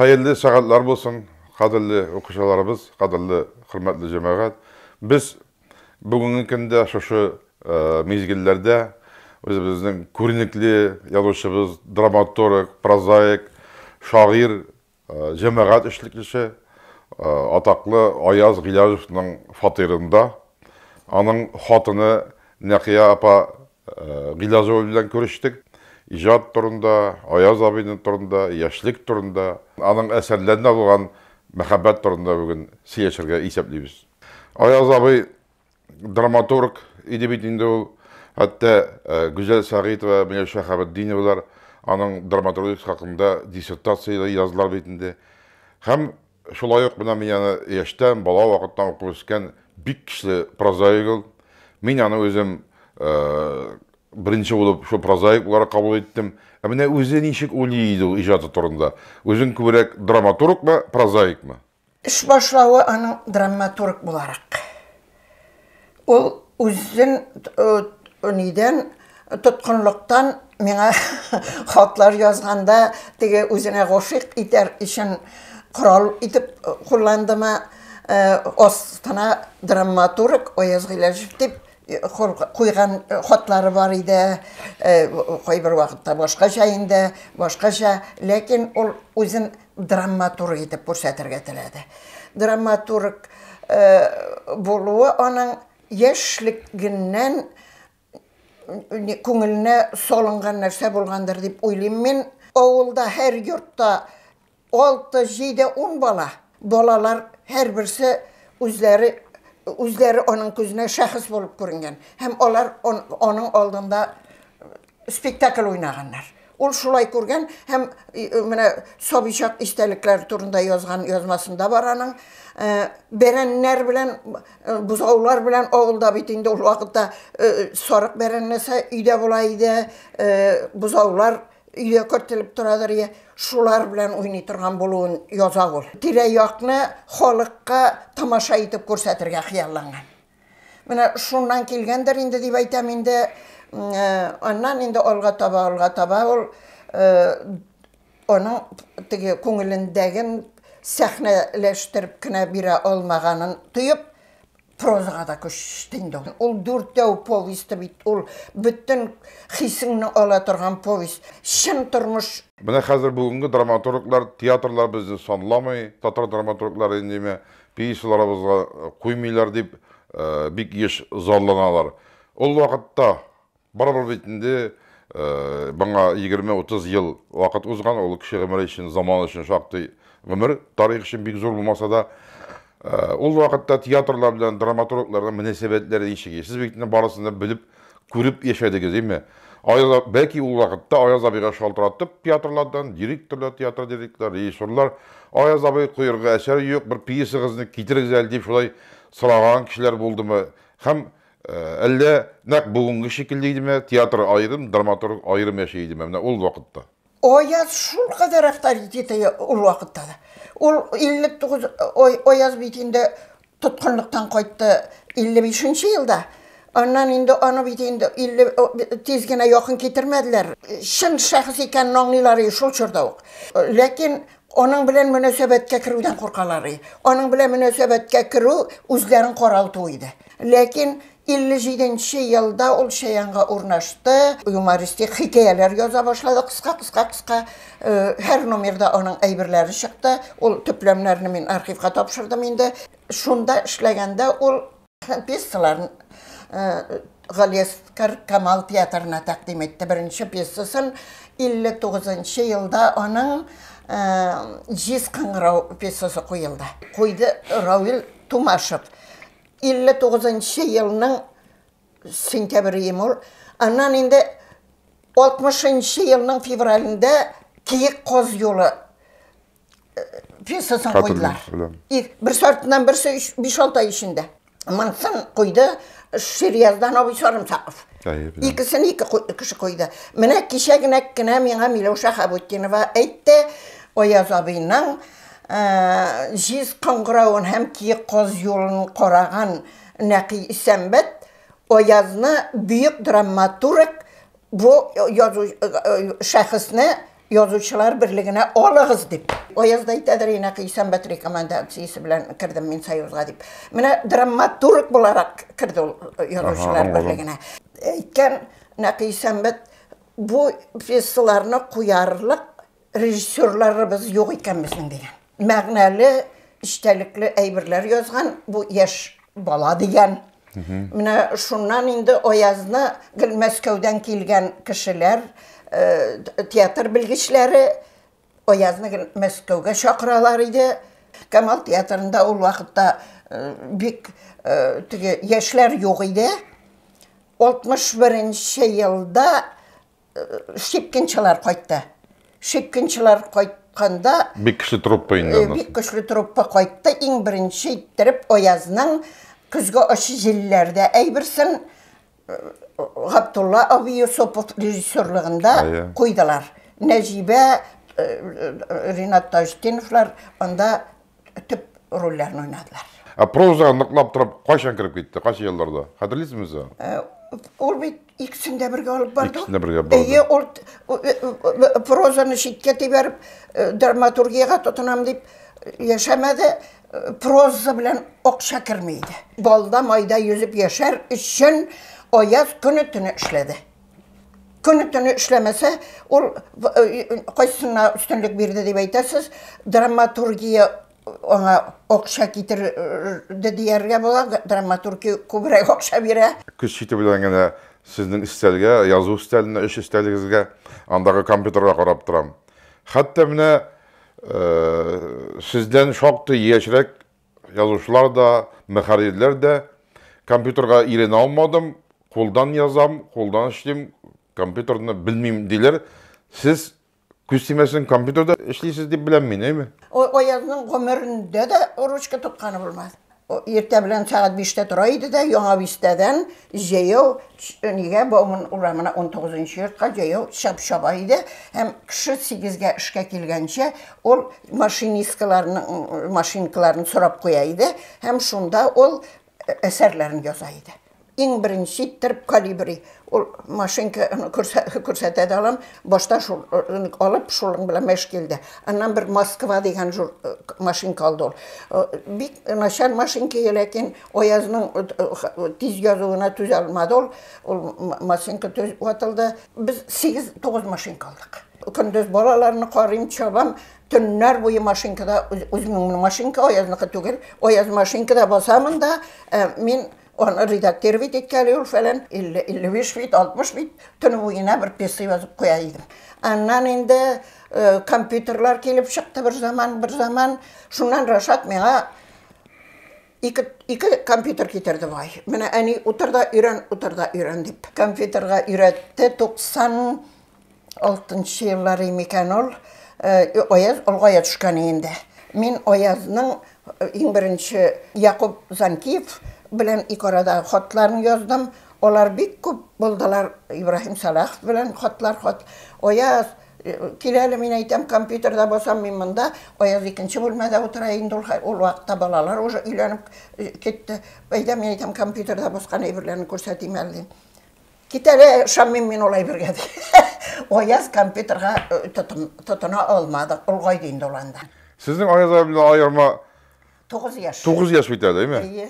Хәерле сәгатьләр булсын, кадерле укучыларыбыз, кадерле хөрмәтле җәмәгать. Без бүгенге көндә шушы э, мизгелләрдә үзебезнең күренекле язучыбыз, драматург, прозаик, шагыйрь Җәмәгать эшлеклесе, атаклы Аяз Гыйләҗевның фатирында аның хатыны Нәкыя апа Гыйләҗева белән күрештек. Иҗат турында, Аяз абыйның турында, яшьлек турында, аның әсәрләренә булган мәхәббәт турында бүген сөйләшергә исәплибез. Аяз абый драматург иде бит инде ул. Хәтта э, Гүзәл Сәгыйтова, Миләү Шәһабетдиновалар аның драматургия хакында диссертация язлар бит инде. Һәм шулай ук менә мин аны яшьтән, бала вакыттан укып үскән бик көчле прозаик ул. Мин аны үзем э, беренче булып шул прозаик буларак кабул иттем. Ә менә үзе ничек уйлый иде ул иҗаты турында? Үзен күбрәк драматургмы, прозаикмы? Эш башлавы аның драматург буларак. Ул үзен нидән тоткынлыктан миңа хатлар язганда теге үзенә гашыйк итәр өчен корал итеп кулландымы, астына драматург Аяз Гыйләҗев дип куйган хатлары бар иде, кайбер вакытта башкача инде, башкача, ләкин ул үзен драмматург итеп күрсәтергә теләде. Драмматург э, булуы аның яшьлегеннән күңеленә салынган нәрсә булгандыр дип уйлыйм мин. Авылда һәр йортта 6, 7, 10 бала. Балалар һәр берсе үзләре үзләре аның күзенә шәхес булып күренгән һәм алар аның алдында Спектакль уйнаганнар. Ул шулай күргән һәм менә сабый чак истәлекләре турында язган язмасында бар аның. Э, бәрәннәр белән, э, бузаулар белән авылда бит инде ул вакытта э, сарык бәрәннәсә өйдә була иде, бузаулар өйдә кертелеп торадыр иә шулар белән уйный торган булуын яза ул тирә якны халыкка тамаша итеп күрсәтергә хыялланган Менә шуннан килгәндер инде дип әйтәм инде. Аннан инде алга таба, алга таба ул аның теге күңелендәген сәхнәләштереп кенә бирә алмаганын тоеп, прозага да күчте инде. Ул дүртәү повесте бит, ул бөтен хисеңне ала торган повесть. Чын тормыш Менә хәзер бүгенге драматурглар, театрлар безне санламый, татар драматурглары индеме, Пьесаларыбызга куймыйлар дип бик еш зарланалар. Ул вакытта, барыбер бит инде моңа егерме-утыз ел вакыт узган, ул кеше гомере өчен, заман өчен шактый гомер, тарих өчен бик зур булмаса да. Ул вакытта театрлар белән драматургларның мөнәсәбәтләре ничек иде? Сез бит инде барысын да белеп Күреп яшәдегез, име? Аяз, бәлки ул вакытта Аяз абыйга шалтыратып театрлардан, директорлар, театр директорлар, режиссерлар, Аяз абый, куерга әсәр юк, бер пьесагызны китерегез әле, дип шулай сораган кешеләр булдымы? Һәм әллә нәкъ бүгенге шикелле идеме, театр аерым, драматург аерым яши идеме, менә ул вакытта? Аяз шулкадәр авторитеты ул вакытта да. Ул 59 Аяз бит инде тоткынлыктан кайтты 55 нче елда. Аннан инде аны бит инде 50 тиз генә якын китермәделәр. Чын шәхес икәнен аңлыйлар и шул чорда ук. Ләкин аның белән мөнәсәбәткә керүдән куркалар и. Аның белән мөнәсәбәткә керү үзләрен каралту иде. Ләкин 57 нче елда ул Чаянга урнашты. Юмористик хикәяләр яза башлады, кыска-кыска-кыска. Э, һәр номерда аның әйберләре чыкты. Ул төпләмнәрне мин архивка тапшырдым инде. Шунда эшләгәндә ул пьесаларын э, Галиәскар Камал театрына тәкъдим итте. Беренче пьесасын 59 елда аның э, Җиз кыңгырау пьесасы куелды. Куйды Равил Тумашев. 59 нчы елның сентябрем ул. Аннан инде 60 нчы елның февралендә Киек коз юлы э, пьесасын куйдылар. Бер сортынан берсе 5-6 ай эчендә. Монсын куйды Ширияздан абый Сарымсаков. Икесен ике кеше куйды. Менә кичә генә кенә миңа Миләүшә Хабутдинова әйтте, Аяз абыйның Җиз кыңгыравын һәм киек каз юлын караган Нәкый Исәнбәт Аязны бөек драматург бу шәхесне Язучылар берлегенә алыгыз дип. Аяз да әйтәдер, и Нәкый Исәнбәт рекомендациясе белән кердем мин Союзга дип. Менә драматург буларак керде ул Язучылар берлегенә. Әйткән Нәкый Исәнбәт бу пьесаларны куярлык Режиссерларыбыз юк икән безнең, дигән. Мәгънәле, эчтәлекле әйберләр язган бу яшь бала, дигән. Менә шуннан инде Аязны гел Мәскәүдән килгән кешеләр, театр белгечләре Аязны гел Мәскәүгә чакыралар иде. Камал театрында ул вакытта бик теге яшьләр юк иде. 61 нче елда Шипкинчылар кайтты. Шипкинчылар кайтканда... Бик көчле труппа инде э, аннан. Бик көчле труппа кайтты. Иң беренче иттереп Аязның көзге ачы җилләрдә әйберсен э, Габдулла абый Юсупов режиссерлыгында куйдылар. Нәҗибә, э, Ринат Таҗтиновлар анда төп рольләрен уйнадылар. Ә прозага ныклап торып кайчан кереп китте, кайсы елларда? Хәтерлисезме сез? Э, ул бит икесен дә бергә алып барды. Икесен дә бергә барды. Әйе, ул э, э, прозаны читкә тибәреп, драматургияга тотынам дип яшәмәде. Проза белән акча керми иде. Балда майда йөзеп яшәр өчен аяз көне-төне эшләде. Көне төне эшләмәсә, ул э, кайсына өстенлек бирде дип әйтәсез, драматургия аңа акча китерде дияргә була, драматургия күбрәк акча бирә. Көз чите белән генә сезнең өстәлгә, язу өстәленә, эш өстәлегезгә, андагы компьютерга карап торам. Хәтта менә э, сездән шактый яшьрәк Язучылар да, мөхәррирләр дә. Компьютерга ирене алмадым, кулдан язам, кулдан эшлим, компьютерны белмим, диләр. Сез күз тимәсен компьютерда эшлисез дип беләм мин, әйме? Ой, Аязның гомерендә дә ручка тотканы булмас. Иртә белән сәгать биштә тора иде дә, Яңа бистәдән Җәяү нигә Бауман урамына унтугызынчы йортка җәяү чап чаба иде һәм кеше сигезгә эшкә килгәнче ул машинисткаларның машинкаларын сорап куя иде һәм шунда ул әсәрләрен яза иде. Иң беренче иттереп калибри ул машинка күрсәтә дә алам, башта шул алып шулың белән мәш килде. Аннан бер Москва дигән машинка алды ул. Бик начар машинка ләкин Аязның тиз язуына түзә алмады ул, ул машинка төз ватылды. Без 8-9 машинка алдык. Көндез балаларны карыйм, чабам, төннәр буе машинкада үземнең машинка аязныкы түгел, аяз машинкада басамын да, э, мин аны редактировать иткәли ул фәлән 50-55 бит, 60 бит, төн буена бер пьеса язып куя идем. Аннан инде э, компьютерлар килеп чыкты бер заман, бер заман. Шуннан Рашат миңа Ике, ике компьютер китерде бай. Менә әни утыр да өйрән, утыр да өйрән дип. Компьютерга өйрәтте 96 еллар микән ул. Э, Аяз олгая төшкән инде. Мин Аязның э, иң беренче Якуб Занкиев белән ике арада хатларын яздым. Алар бик күп булдылар. Ибраһим Салахов белән хатлар хат. Аяз Кил әле, мин әйтәм, компьютерда басам мин монда, Аяз икенче бүлмәдә утыра инде ул, ул вакытта балалар уже өйләнеп э, китте. Әйдә, мин әйтәм, компьютерда баскан әйберләрне күрсәтим әле дим. Кит әле, ышанмыйм мин ул әйбергә ди. Аяз компьютерга э, тотына алмады, олгайды инде ул анда. Сезнең Аяз абыйдан аерма 9 яшь. 9 яшь бит әле, әйме? Әйе.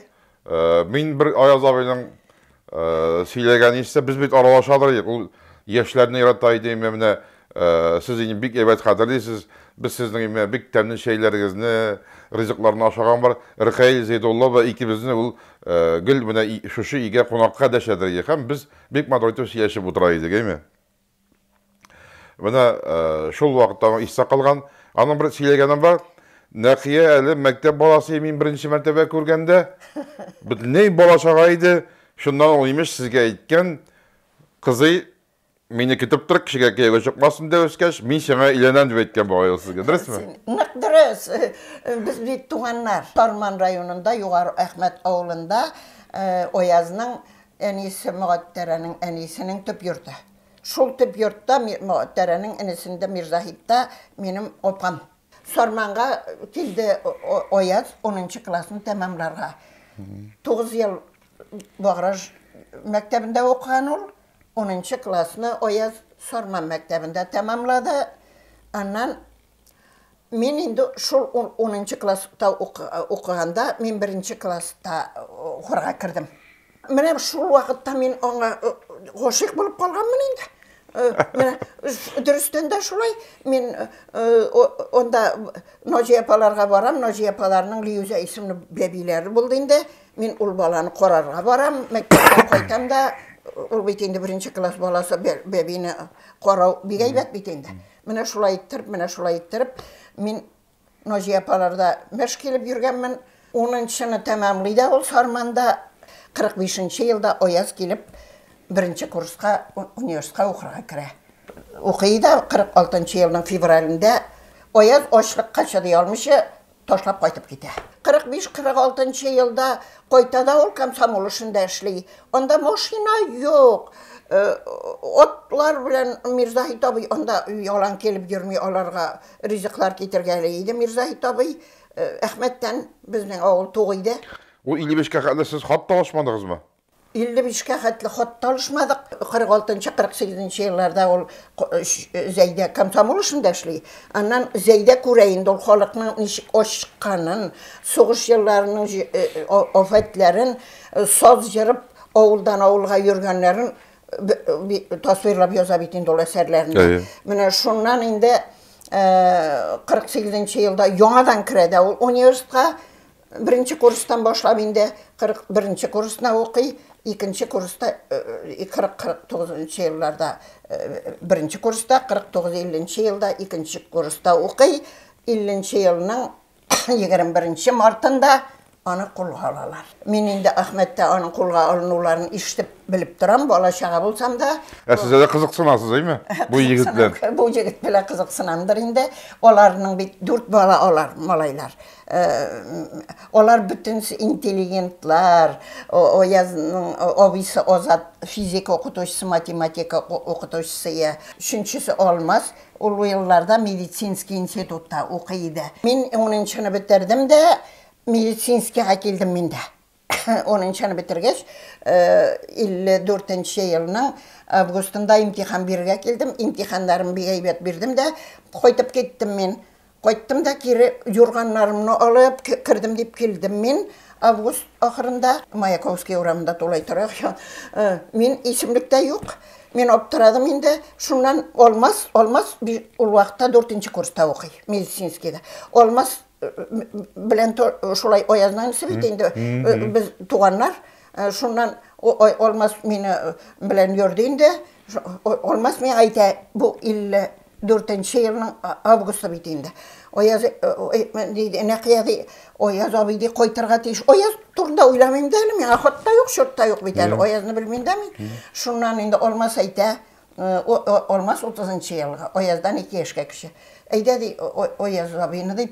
Мин бер Аяз абыйның сөйләгән исә, без бит аралашадыр идек, ул яшьләрне ярата иде, имә менә сез инде бик әйбәт хәтерлисез, без сезнең имә бик тәмле чәйләрегезне, ризыкларны ашаган бар. Ркаил Зәйдуллова икебезне ул гел менә шушы өйгә кунакка дәшәдер иде һәм без бик матур итеп сөйләшеп утыра идек, әйме? Менә шул вакытта аңа истә калган. Аның бер сөйләгәне бар. Нәкия әле мәктәп баласы мин беренче мәртәбә күргәндә. Бөтенләй балачага иде. Шуннан ул имеш сезгә әйткән, кызый, мине көтеп тор, кешегә кияүгә чыкмасын дә үскәч, мин сиңа өйләнәм дип әйткән бугай ул сезгә. Дөресме? Нык дөрес. Без бит туганнар. Сарман районында, Югары Әхмәт авылында Оязның Әнисе Могатәрәнең әнисенең төп йорты. Шул төп йортта, Могатәрәнең энесендә, Мирзаһибта минем апам. Сарманга килде Аяз унынчы классны тәмамларга. Тугыз ел Баграж мәктәбендә укыган ул. Унынчы классны Аяз Сарман мәктәбендә тәмамлады. Аннан Мин инде шул 10 класста укыганда, мин беренче класста укырга кердем. Менә шул вакытта мин аңа гашыйк булып калганмын инде. Менә дөрестән дә шулай. Мин анда Наҗия апаларга барам, Наҗия апаларның Лиюзә исемле бәбиләре булды инде. Мин ул баланы карарга барам, мәктәптән кайтам да, ул бит инде беренче класс баласы, бәбине карау бик әйбәт бит инде. Менә шулай иттереп, менә шулай иттереп, мин Наҗия апаларда мәш килеп йөргәнмен. Унынчыны тәмамлый да ул Сарманда, 45 нче елда Аяз килеп беренче курска университетка укырга керә. Укый да 46 нчы елның февралендә Аяз ачлыкка чыдый алмыйча, ташлап кайтып китә. 45-46 нчы елда кайта да ул комсомол эшендә эшли. Анда машина юк. Э, отлар белән Мирзаһит абый анда ялан килеп йөрми аларга ризыклар китергәли иде. Мирзаһит абый э, Әхмәттән безнең авыл тугы иде. Ул 55 кә кадәр сез хат та алышмадыгызмы? 55 кә хәтле хат та алышмадык. 46 нчы, 48 нче елларда ул Зәйдә комсомол эшендә эшли. Аннан Зәйдә күрә инде ул халыкның ничек ачыкканын, сугыш елларының афәтләрен, саз җырып, авылдан авылга йөргәннәрен тасвирлап яза бит инде ул әсәрләрендә. Менә шуннан инде 48 нче елда яңадан керә дә ул университетка. Беренче курстан башлап инде 41-нче курсына укый, икенче курста 40-49-нчы елларда беренче курста, 49-50-нче елда икенче курста укый, 50-нче елның 21-нче мартында аны кулга алалар. Мин инде Ахмәттә аның кулга алынуларын ишетеп белеп торам, бала чага булсам да. Ә сез дә кызыксынасыз, әйме? Бу егет белән. Бу егет белән кызыксынамдыр инде. Аларның бит дүрт бала алар, малайлар. Алар бөтенесе интеллигентлар, Аязның абыйсы Азат физика укытучысы, математика укытучысы иде. Өченчесе Алмаз, ул бу елларда медицинский институтта укый иде. Мин унынчыны бетердем дә, медицинскийга килдем мин дә. 10-нчыны бетергәч, 54-нче э, елның августында имтихан бирергә килдем. Имтиханнарым бик әйбәт бирдем дә, кайтып киттем мин. Кайттым да кире юрганнарымны алып кердем дип килдем мин август ахырында Маяковский урамында тулай тора. Э, мин исемлектә юк. Мин аптырадым инде. Шуннан Алмаз, Алмаз ул вакытта 4 курста укый, медицинскийда. Алмаз белән шулай аязның инесе бит инде без туганнар шуннан алмаз мине белән йөрде инде алмаз миңа әйтә бу илле дүртенче елның августы бит инде аяз дейді нәқия ди аяз абый ди кайтырга тиеш аяз турында уйламыйм да әле миңа хатта юк чорт та юк бит әле аязны белмим дә мин шуннан инде алмаз әйтә Алмаз утызынчы елгы, Аяздан ике яшькә кече. Әйдә, ди, Аяз абыйны, ди,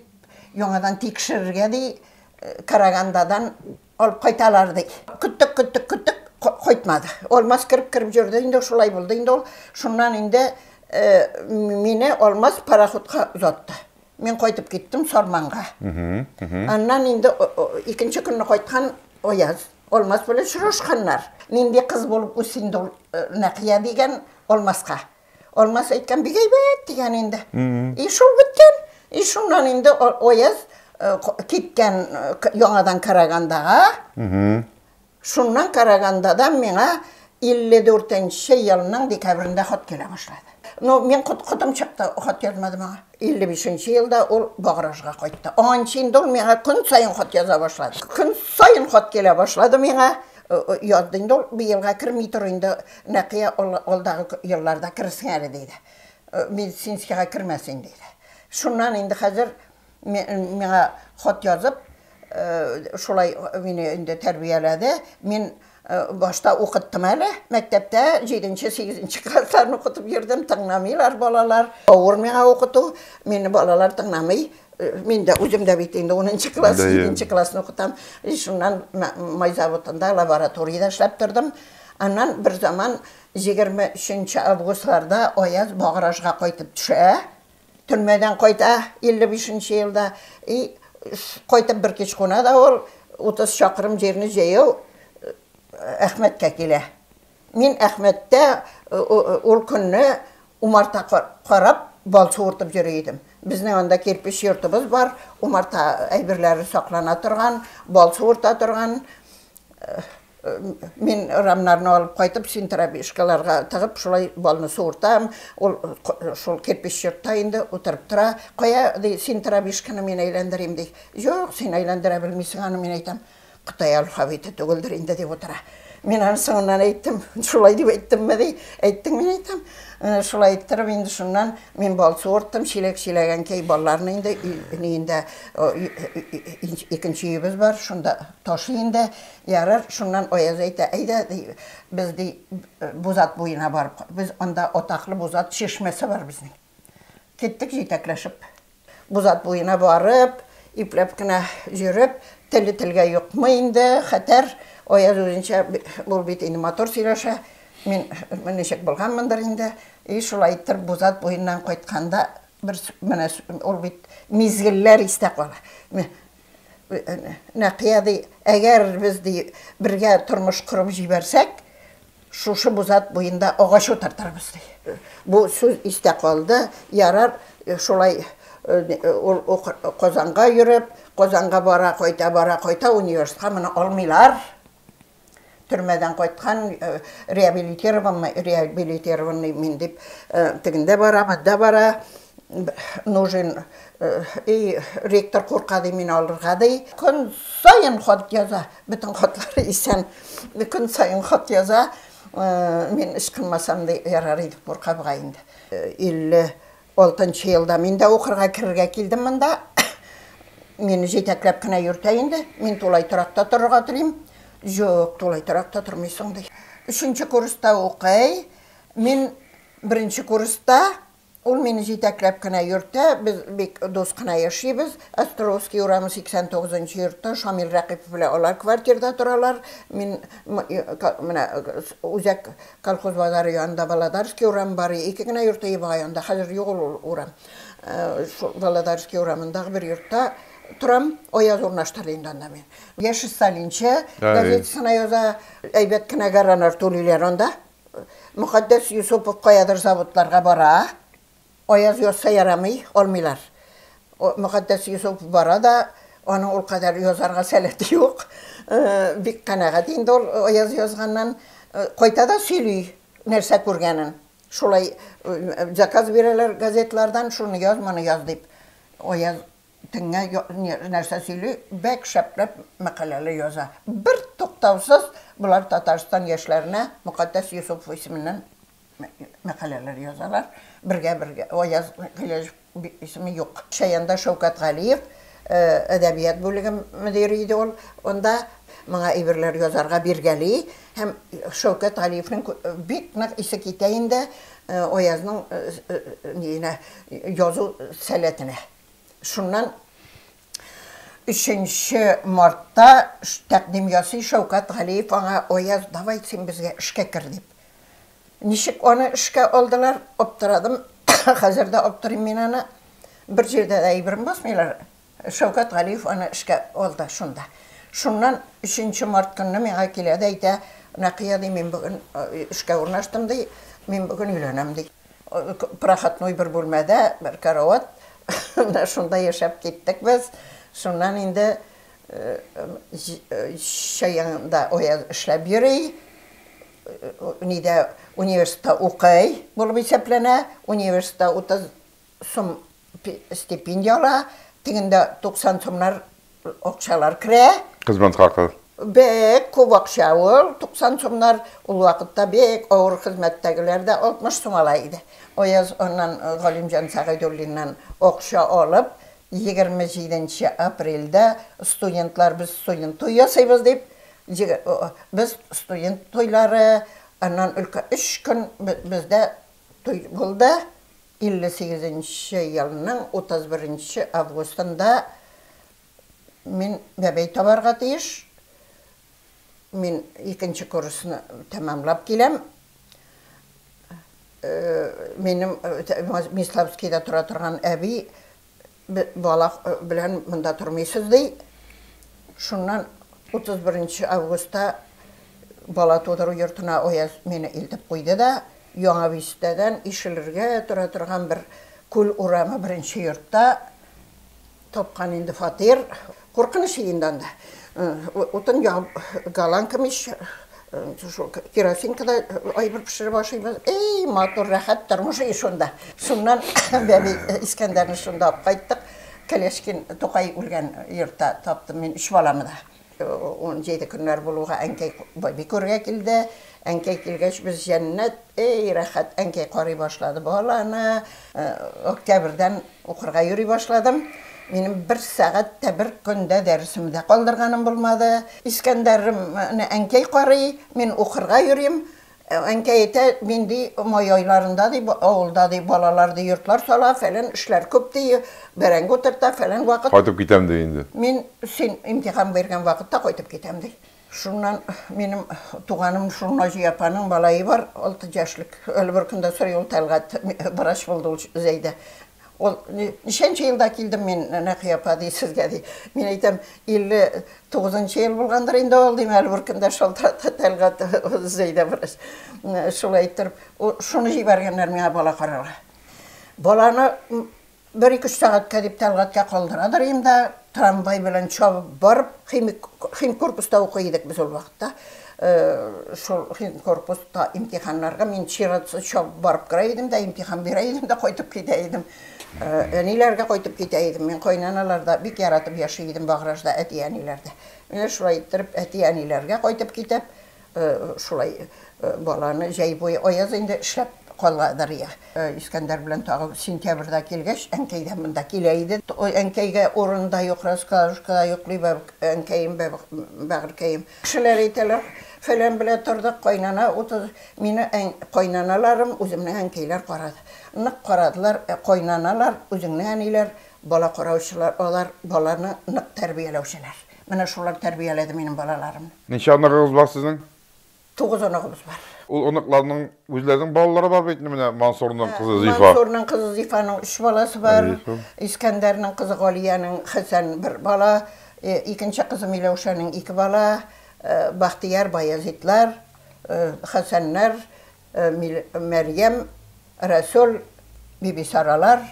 яңадан тикшерергә, ди, Карагандадан алып кайталар, ди. Көттек, көттек, көттек, кайтмады. Алмаз кереп-кереп йөрде инде, шулай булды инде ул. Шуннан инде мине Алмаз пароходка озатты. Мин кайтып киттем Сарманга. Аннан инде икенче көнне кайткан Аяз. Алмаз белән очрашканнар. Нинди кыз булып үс инде ул э, Нәкия дигән Алмаска. Алмаз әйткән бик әйбәт дигән инде. И шул беткән. И шуннан инде Аяз э, киткән э, яңадан Карагандага. Шуннан караганда да миңа 54 нче елның декабрендә хат килә башлады. Ну, мин котым чыкты, хат язмадым аңа. 55 нче елда ул Багражга кайтты. Аннанчы инде ул миңа көн саен хат яза башлады. Көн саен хат килә башлады миңа. Язды инде ул, быелга керми тор инде, Нәкыя, алдагы елларда керерсең әле, диде. Медицинскийга кермәсен, диде. Шуннан инде хәзер Миңа хат язып, шулай мине инде тәрбияләде. Мин башта укыттым әле, мәктәптә җиденче, сигезенче классларны укытып йөрдем, тыңламыйлар балалар. Авыр миңа укыту, мине балалар тыңламый. Мин дә, үзем дә бит инде унынчы класс, җиденче классны укытам. И шуннан май заводында лабораториядә эшләп тордым. Аннан берзаман егерме өченче августларда аяз Багражга кайтып төшә. Төрмәдән кайта, 55 нче елда. И, кайтып бер кич куна да ул, 30 чакрым җирне җәяү Әхмәткә килә. Мин Әхмәттә ул көнне умарта карап, бал суыртып йөри идем. Безнең анда кирпеч йортыбыз бар, умарта әйберләре саклана торган, бал суырта торган. Мин рамнарны алып кайтып, синтрабишкаларга тыгып, шулай балны суыртам. Ул шул кирпич йортта инде утырып тора. Кая, ди, синтрабишканы мин әйләндерим, ди. Юк, син әйләндерә белмисең аны, мин әйтәм. Кытай алфавиты түгелдер инде, дип утыра. Мин аны соңыннан әйттем. Шулай дип әйттемме, ди. Әйттең, мин әйтәм. Э, шулай әйттереп, инде шуннан мин бал суырттым, чиләк чиләгән кей балларны инде, инде икенче өебез бар, шунда ташый инде. Ярар, шуннан Аяз әйтә, әйдә, ди, без, ди, Бузат буена барып, без анда атаклы Бузат чишмәсе бар безнең. Киттек җитәкләшеп. Бузат буена барып, ипләп кенә йөреп, теле телгә йокмый инде, хәтәр. Аяз үзенчә, ул бит инде матур сөйләшә. Мин ничек булганмындыр инде. И шулай иттереп Бузат буеннан кайтканда, бер менә ул бит мизгелләр истә кала. Нәкыя ди, әгәр без ди бергә тормыш корып җибәрсәк, шушы бузат буенда агач утыртырбыз ди. Бу сүз истә калды. Ярар, шулай ул Казанга йөреп, Казанга бара, кайта, бара, кайта, университетка моны алмыйлар. Төрмәдән кайткан, э, реабилитированный, реабилитированный мин дип, э, тегендә бара, монда бара, нужен, э, и ректор курка ди мин алырга ди. Көн сайын хат яза, бөтен хатлары исән. Көн сайын хат яза, мин эш кылмасам ди, ярар иде курка бугай инде. 50 Алтынчы елда мин дә укырга керергә килдем монда. Мине җитәкләп кенә йөртә инде. Мин тулай торакта торырга телим. Җук, тулай торакта тормыйсың, ди. Өченче курста укый. Мин беренче курста, ул мине җитәкләп кенә йөртә. Без бик дус кына яшибез. Островский урамы 89 нчы йортта Шамил Рәкыйпов белән алар квартирда торалар. Мин менә үзәк Колхоз базары янында Володарский урамы бар, ике генә йорт ие бар анда, хәзер юк ул урам. Шул Володарский урамындагы бер йортта торам, аяз урнаштырды инде анда мин. Яшь сталинчы газетасына яза, әйбәт кенә гәранар түлиләр анда. Мөхәддәс Йосыпов каядыр заводларга бара. Аяз язса ярамый, алмыйлар. Мөкатдәс Йосыф бара да, аның ул кадәр язарга сәләте юк. Бик канәгать инде ул Аяз язганнан. Кайта да сөйли, нәрсә күргәнен. Шулай заказ бирәләр газетлардан, шуны яз, моны яз дип. Аяз төнлә нәрсә сөйли, бәк шәпләп мәкаләләр яза. Бертуктаусыз болар Татарстан яшьләренә Мөкатдәс Йосыф исеменнән мәкаләләр язалар. Бергә бергә Аяз Гыйләҗев исеме юк. Шаянда Шәүкәт Галиев әдәбият бүлеге мөдире иде ул. Онда моңа әйберләр язарга биргәли һәм Шәүкәт Галиевнең бик нык исе китә инде Аязның ниенә язу сәләтенә. Шуннан Өченче мартта тәкъдим ясый Шәүкәт Галиев аңа, Аяз, давай син безгә эшкә кер, дип. Ничек аны эшкә алдылар, аптырадым, хәзер дә аптырыйм мин аны. Бер җирдә дә әйберен басмыйлар. Шәүкәт Галиев аны эшкә алды шунда. Шуннан өченче март көнне миңа килә дә әйтә, Нәкыя, ди, мин бүген эшкә урнаштым, ди, мин бүген өйләнәм, ди. Прохатной бер бүлмәдә, бер карават, менә шунда яшәп киттек без. Шуннан инде чаянда Аяз эшләп йөри, нидә университетта укый булып исәпләнә, университетта 30 сум стипендия ала, тегендә 90 сумнар акчалар керә. Хезмәт хакы. Бик күп акча ул, 90 сумнар. Ул вакытта бик авыр хезмәттәгеләр дә 60 сум ала иде. Аяз аннан Галимҗан Сәгыйдуллиннан акча алып, 27 нче апрельдә студентлар без студент туй ясыйбыз дип, без студент туйлары, аннан өлкә өч көн бездә туй булды. 58 нче елның 31 нче августында мин бәбәй табарга тиеш. Мин икенче курсны тәмамлап киләм. Минем Миславскида тора торган әби бала белән монда тормыйсыз, ди. Шуннан 31 нче августта бала тудыру йортына Аяз мине илтеп куйды да, Яңа Бистәдән ишелергә тора торган бер күл урамы беренче йортта тапкан инде фатир. Куркыныч инде анда. Утын ягып, голландка мич, шул керосинкада әйбер пешереп ашыйбыз. Әй, матур, рәхәт тормыш ий шунда. Шуннан бәби Искәндәрне шунда алып кайттык. Колешкин Тукай үлгән йортта таптым мин өч баламны да. Унҗиде көннәр булуга әнкәй бәби күрергә килде. Әнкәй килгәч без җәннәт, эй, рәхәт, әнкәй карый башлады баланы. Октябрьдән укырга йөри башладым. Минем бер сәгать тә, бер көн дә дәресемне дә калдырганым булмады. Искәндәрне әнкәй карый, мин укырга йөрим. Әнкәй әйтә, мин, ди, май айларында, ди, авылда, ди, балалар, ди, йортлар сала, фәлән эшләр күп, ди, бәрәңге утырта, фәлән вакыт. Кайтып китәм, ди, инде. Мин, син имтихан биргән вакытта кайтып китәм, ди. Шуннан минем туганым шул Наҗия апаның малае бар, алты яшьлек. Әле бер көндә сорый ул Тәлгать, врач булды ул Зәйдә. Ул ничәнче елда килдем мин, Нәкыя апа, ди, сезгә, ди. Мин әйтәм, 59 ел булгандыр инде ул, дим, әле бер көндә шалтырата Тәлгать Зәйдә врач. Шулай иттереп, шуны җибәргәннәр миңа бала карарга. Баланы Бер-ике-өч сәгатькә дип Тәлгатькә калдырадыр ием дә, трамвай белән чабып барып, химик химкорпуста укый идек без ул вакытта. Шул химкорпуска имтиханнарга мин чиратсыз чабып барып керә идем дә, имтихан бирә идем дә, кайтып китә идем. Әниләргә кайтып китә идем. Мин кайнаналарда бик яратып яши идем, Багражда, әти-әниләрдә. Менә шулай иттереп, әти-әниләргә кайтып китеп, Шулай баланы җәй буе аяз инде эшләп калгадыр я. Искәндәр белән тагы сентябрьдә килгәч, әнкәй дә монда килә иде. Әнкәйгә урын да юк, раскладушкада йоклый әнкәем, бәгырькәем. Кешеләр әйтәләр, фәлән белән тордык, кайнана утыз. Мине кайнаналарым үземнең әнкәйләр карады. Нык карадылар. Ә кайнаналар, үзеңнең әниләр, бала караучылар, алар баланы нык тәрбияләүчеләр. Менә шулар тәрбияләде минем балаларымны. Ничә оныгыгыз бар сезнең? Тугыз оныгыбыз бар. Ул оныкларның үзләренең балалары бар бит, менә Мансурның кызы Зифа. Мансурның кызы Зифаның өч баласы бар. Искәндәрнең кызы Галиянең Хәсән бер бала, икенче кызы Миләүшәнең ике бала, Бахтияр, Баязитлар, Хәсәннәр. Мәрьям, Рәсүл, Бибисаралар.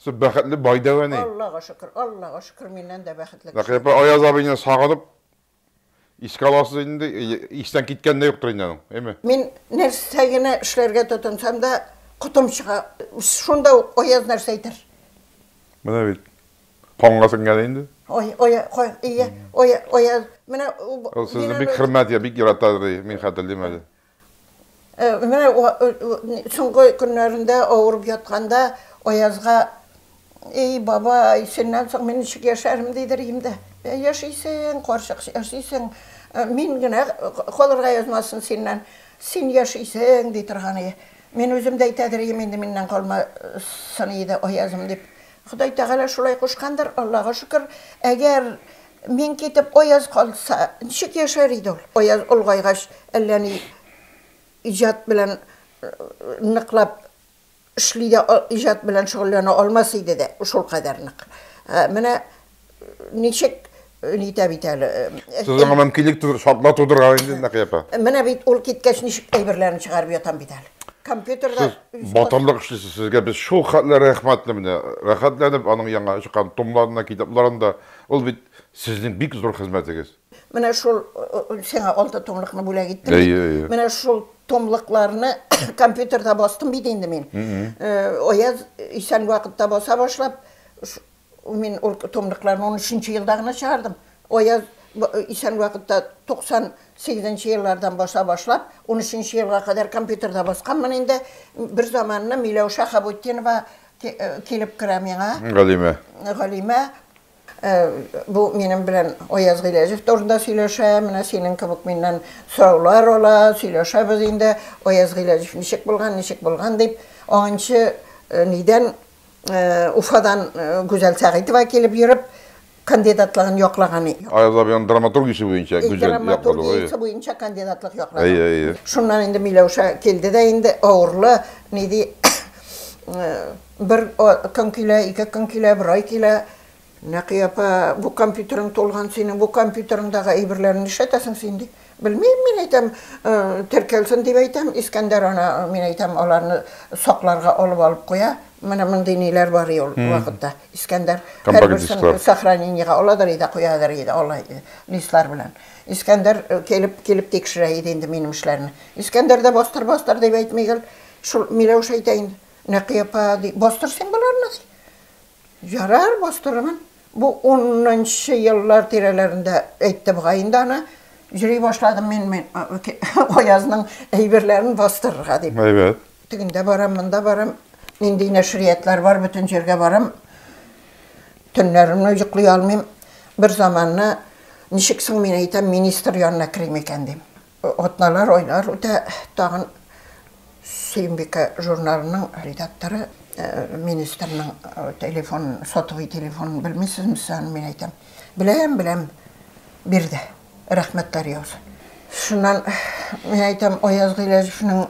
Сез бәхетле бай дәү әни. Аллага шөкер, Аллага шөкер, миннән дә бәхетле кеше. Бәкый апа, Аяз абыйны сагынып искә аласыз инде, истән киткән дә юктыр инде аның, әйме? Мин нәрсә генә эшләргә тотынсам да, котым чыга. Шунда ук Аяз нәрсә әйтер. Менә бит, канга сеңгән инде. Ой, Ая, кай, ия, Ая, Аяз, менә ул. Ул сезне бик хөрмәт итә, бик ярата, ди, мин хәтерлим әле. Э, менә соңгы көннәрендә авырып ятканда Аязга Эй, бабай, синнән соң мин ничек яшәрем дидер идем дә. Ә яшисең, карчык, яшисең. Э, мин генә калырга язмасын синнән. Син яшисең, ди торган иде. Мин үзем дә әйтәдер идем, инде миннән калмасын иде Аязым дип. Ходай Тәгалә шулай кушкандыр, Аллага шөкер. Әгәр Мин китеп, Аяз калса, ничек яшәр иде ул? Аяз олгайгач, әллә ни иҗат белән ныклап эшли дә, иҗат белән шөгыльләнә алмас иде дә, шул кадәр нык. Менә ничек нитә бит әле. Сезнең аңа мөмкинлек түгел, шартлар тудырган инде Нәкыя апа. Менә бит ул киткәч ничек әйберләрен чыгарып ятам бит әле. Компьютерда Сез батырлык эшлисез, сезгә без шул хәтле рәхмәтле менә. Рәхәтләнеп аның яңа чыккан томнарына, китапларына Ул бит сезнең бик зур хезмәтегез. Менә шул сиңа алты томлыкны бүләк иттем бит. Әйе, әйе. Менә шул томлыкларны компьютерда бастым бит инде мин. Аяз исән вакытта баса башлап, мин ул томлыкларны 13 елда гына чыгардым. Аяз исән вакытта 98 еллардан баса башлап, 13 елга кадәр компьютерда басканмын инде. Берзаманны Миләүшә Хабутдинова Килеп керә миңа. Галимә. Галимә. Бу минем белән Аяз Гыйләҗев турында сөйләшә, менә синең кебек миннән сораулар ала, сөйләшәбез инде. Аяз Гыйләҗев ничек булган, ничек булган дип, аңынчы нидән Уфадан Гүзәл Сәгыйтова килеп йөреп, кандидатлыгын яклаган иде. Аяз абыйның драматург ише буенча гүзәл яклады. Драматург ише буенча кандидатлык яклады. Әйе, әйе. Шуннан инде Миләүшә килде дә инде авырлы, ни ди, бер көн килә, ике көн килә, бер ай килә. Нәкый апа, бу компьютерың тулган синең, бу компьютерыңдагы әйберләрен нишләтәсең син, ди. Белмим, мин әйтәм, теркәлсен дип әйтәм, Искәндәр аны, мин әйтәм, аларны сакларга алып алып куя. Менә мондый ниләр бар ул вакытта. Искәндәр һәрберсен сохранениегә аладыр иде, куядыр иде, алай иде, листлар белән. Искәндәр килеп, килеп тикшерә иде инде минем эшләрне. Искәндәр дә бастыр, бастыр дип әйтми гел, шул Миләүшә әйтә инде. Нәкый апа, бастыр син боларны, ди. Ярар, бастырырмын. Бу унынчы еллар тирәләрендә әйттем га инде аны. Йөри башладым мин мин Аязның әйберләрен бастырырга дип. Әйбәт. Тегендә барам, монда барам, нинди нәшриятлар бар, бөтен җиргә барам. Төннәрне йоклый алмыйм. Берзаманны, ничек соң мин әйтәм, министр янына керим икән дим. Атналар, айлар үтә, тагын Сөембикә журналының редакторы министрның телефон, сотовый телефонын белмисезме сез аны? Мин әйтәм, беләм, беләм, бир дә, рәхмәтләр яусын. Шуннан мин әйтәм, Аяз Гыйләҗевнең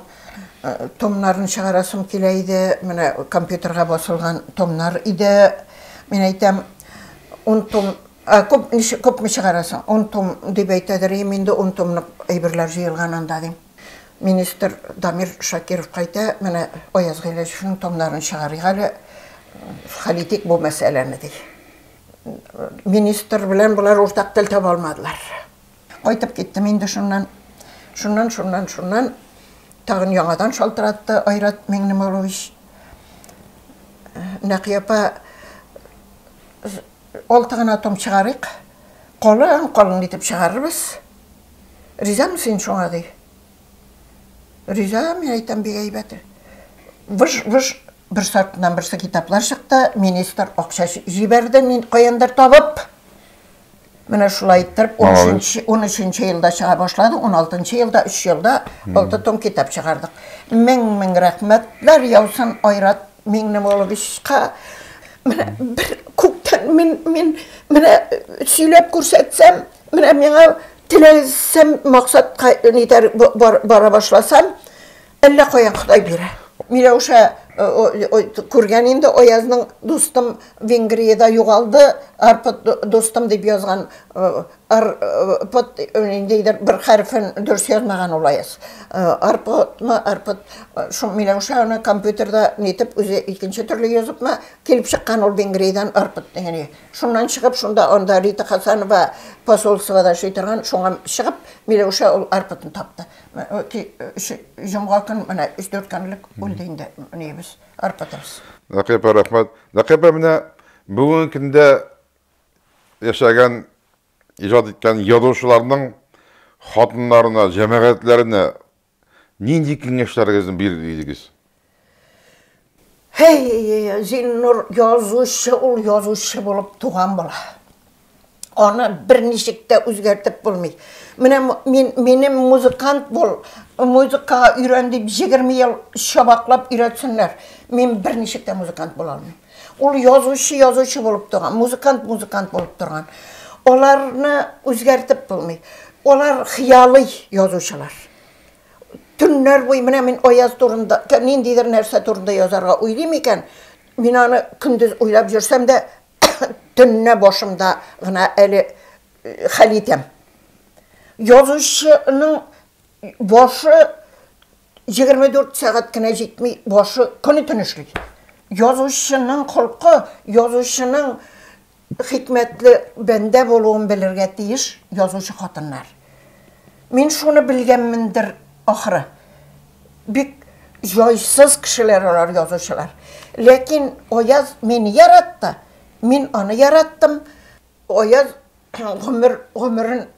томнарын чыгарасым килә иде, менә компьютерга басылган томнар иде. Мин әйтәм, ун том Ә күп ни күпме чыгара соң? Ун том дип әйтә дер им инде, ун томлык әйберләр җыелган анда, дим. Министр Дамир Шакировка әйтә, менә Аяз Гыйләҗевнең томнарын чыгарыйк әле, хәл итик бу мәсьәләне, ди. Министр белән болар уртак тел таба алмадылар. Кайтып киттем инде шуннан. Шуннан, шуннан, шуннан тагын яңадан шалтыратты Айрат Миңнемолович. Нәкыя апа, Алты гына том чыгарыйк, калын-калын итеп чыгарырбыз. Ризамы син шуңа, ди. Риза, мин әйтәм, бик әйбәт. Выж-выж бер сартыннан берсе китаплар чыкты, министр акча җибәрде, мин каяндыр табып. Менә шулай иттереп, 13-нче елда чыга башлады, 16-нчы елда, 3 елда алты том китап чыгардык. Мең-мең рәхмәтләр яусын, Айрат Минем улым Исхакка менә бер күктән мин мин менә сөйләп күрсәтсәм, менә миңа теләсәм максатка нитәр бара башласам, әллә каян Ходай бирә. Миләүшә күргән инде Аязның дустым Венгриядә югалды, арпы дустым дип язган Ар, пот, ниндидер бер хәрефен дөрес язмаган ул аяз. Арпотмы, арпот, шул Миләүшә аны компьютерда нитеп үзе икенче төрле языпмы, килеп чыккан ул Венгриядән арпот дигәне. Шуннан чыгып, шунда анда Рита Хасанова посольствода эшли торган, шуңа чыгып, Миләүшә ул арпотны тапты. Җомга көн менә 3-4 көнлек үлде инде нибез, арпотыбыз. Нәкыйпә, рәхмәт. Нәкыйпә, менә бүгенге көндә яшәгән, иҗат иткән язучыларның хатыннарына, җәмәгатьләренә нинди киңәшләрегезне бирер идегез? Һей, Зиннур, язучы ул язучы булып туган була. Аны берничек тә үзгәртеп булмый. Менә мин, минем музыкант бул, музыкага өйрән дип 20 ел чабаклап өйрәтсеннәр, мин берничек тә музыкант була алмыйм. Ул язучы язучы булып торган, музыкант музыкант булып торган. Аларны үзгәртеп булмый. Алар хыялый язучылар. Төннәр буе менә мин Аяз турында, ниндидер нәрсә турында язарга уйлыйм икән, мин аны көндез уйлап йөрсәм дә, төнне башымда гына әле э, хәл итәм. Язучының башы 24 сәгать кенә җитми, башы көне төн эшли. Язучының холкы, язучының хикмәтле бәндә булуын белергә тиеш язучы хатыннар. Мин шуны белгәнмендер, ахры. Бик җайсыз кешеләр алар язучылар. Ләкин Аяз мине яратты, мин аны яраттым. Аяз гомер гомерен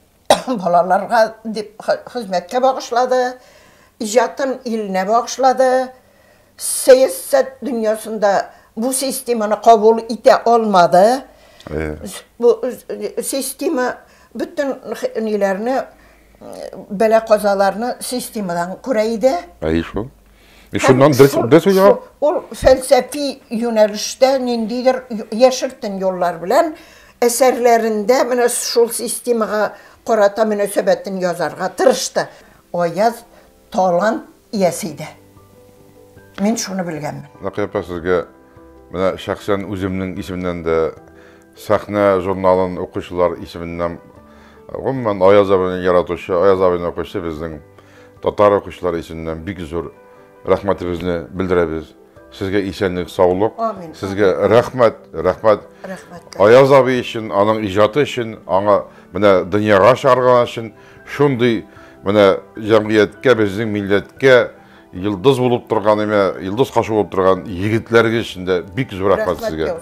Балаларга дип хезмәткә багышлады, иҗатын иленә багышлады. Сәясәт дөньясында бу системаны кабул итә алмады. Э. Бу система бөтен ниләрне бәла-казаларны системадан күрә иде. Әйе шул. Мин шуннан дөрес дөрес уйга ул фәлсәфи юнәлештә ниндидер яшертен юллар белән әсәрләрендә менә шул системага карата мөнәсәбәтен язарга тырышты. Аяз талант иясе иде. Мин шуны белгәнмен. Накыйпа сезгә менә шәхсән үземнең исемнән дә Сәхнә журналын укучылар исеменнән, гомумән, Аяз абыйны яратучы, Аяз абыйны укучы безнең татар укучылары исеменнән бик зур рәхмәтебезне белдерәбез. Сезгә исәнлек, саулык. Амин. Сезгә рәхмәт, рәхмәт. Рәхмәт. Аяз абый өчен, аның иҗаты өчен, аңа менә дөньяга чыгарган өчен шундый менә җәмгыятькә, безнең милләткә Йылдыз булып торган әмә йылдыз кашы булып торган егетләргә өчен дә бик зур рәхмәт сезгә.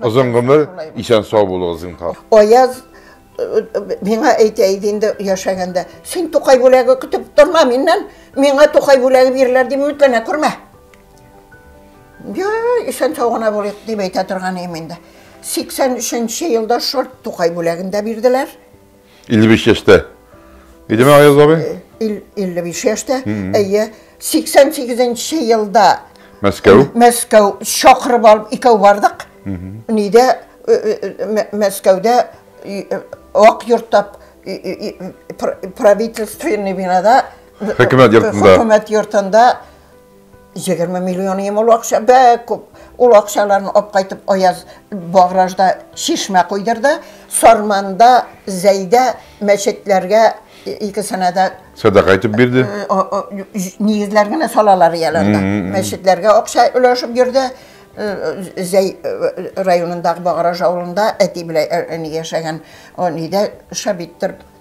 Озын гомер, исән сау булыгыз зинһар. Аяз э, э, миңа әйтә иде инде яшәгәндә, син Тукай бүләге көтеп торма миннән, миңа Тукай бүләге бирелер дип үмитләнә күрмә. Я, исән сау гына булыйк дип әйтә торган идем инде. 83 елда шорт Тукай бүләгендә бирделәр. 55 яшьтә. Идеме Аяз абый? 55 яшьтә. Әйе, 88 елда Мәскәү. Мәскәү чакырып алып икәү бардык. Нидә э, э, э, Мәскәүдә ак йорттап правительственный бинада хөкүмәт йортында хөкүмәт йортында 20 миллион ем ул акча, бәк күп. Ул акчаларны алып кайтып Аяз Багражда чишмә койдырды, Сарманда, Зәйдә мәчетләргә икесенә дә сәдака итеп бирде. Э, э, нигезләр генә салалар ияләрдә. Мәчетләргә акча өләшеп йөрде. Э, Зәй районындагы Баграж авылында әти белән әни яшәгән, әнидә шабиттер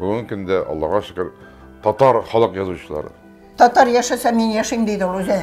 Бүгенге көндә, Аллага шөкер, татар халык язучылары. Татар яшәсә, мин яшим, диде ул үзе.